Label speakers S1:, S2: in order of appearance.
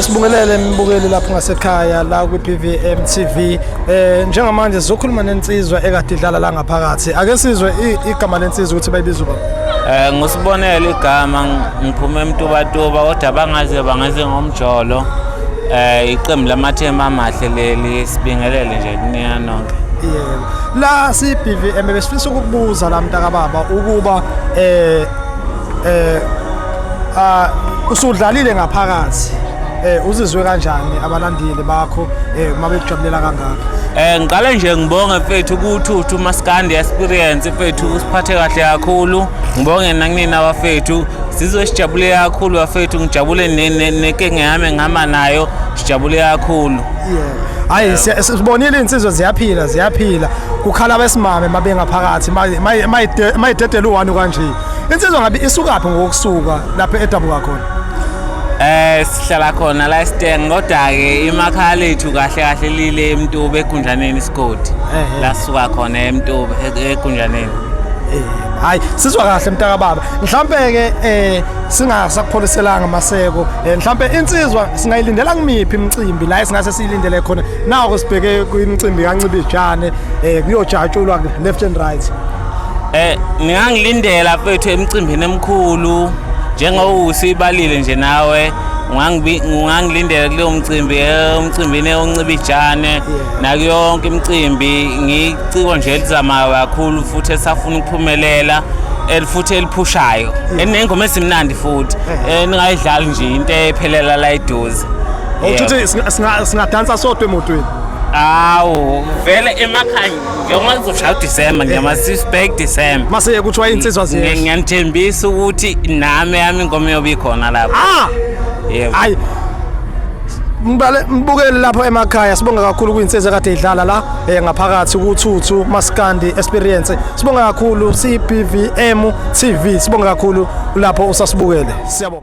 S1: Sibungelele mbukeli lapho ngasekhaya la kwi-PVM TV eh njengamanje sizokhuluma nensizwa ekade idlala la ngaphakathi ake sizwe igama lensizwa ukuthi bayibiza ubani Eh ngusibonele
S2: igama ngiphume emtubatuba kodwa bangaze bangaze ngomjolo eh iqembu lamathema amahle leli sibingelele nje kunina nonke yebo la
S1: si BVM besifisa ukukubuza la mntaka baba ukuba eh eh Ah usudlalile ngaphakathi eh uzizwe kanjani abalandeli bakho eh uma bekujabulela kangaka Eh ngiqale nje ngibonge
S2: mfethu kuthuthu maskandi experience mfethu usiphathe kahle kakhulu ngibonge nakunina abafethu sizwe sijabule kakhulu bafethu ngijabule ne- ne- nekenge yami ngihamba nayo sijabule kakhulu yeah hayi
S1: siya- sibonile insizwe ziyaphila ziyaphila kukhala besimame mabengaphakathi mayidedela u1 kanje Insizwa ngabe isukaphi ngokusuka lapha edabuka khona? Eh
S2: sihlala khona la Steng kodwa ke imakhaya lethu kahle kahle lile eMtube eGunjaneni isigodi. La suka khona eMtube e-, eGunjaneni. Eh
S1: hayi sizwa kahle mntaka baba. Mhlambe ke eh singasakupholiselanga maseko. Eh, Mhlambe insizwa singayilindela kumiphi imicimbi la esingase siyilindele khona. Nawo sibheke kwimicimbi kancibijane eh kuyojatshulwa left and right. Eh ngangilindela
S2: fethu emcimbini emkhulu njengoba usibalile nje nawe ngangilindele kuleyo mcimbi eh, umcimbini oncibijane naku yonke imicimbi ngiciko nje elizamayo kakhulu futhi esafuna ukuphumelela elifuthi eliphushayo enengoma esimnandi futhi eh. ningayidlali nje into ephelela la iduze awuthi
S1: singadansa sodwa emotweni awu
S2: vele emakhaya Yonke ngizoshaya uDecember ngiyamazisa back December. Mase kuthiwa insizwa
S1: ziyehla. Ngiyanithembisa ukuthi
S2: nami yami ingoma yobe ikhona lapho. Ah! Yebo. Hayi.
S1: Mbale mbukeli lapho emakhaya sibonga kakhulu kwinsizwa kade idlala la eh ngaphakathi kuthuthu maskandi experience sibonga kakhulu CBVM TV sibonga kakhulu lapho usasibukele siyabonga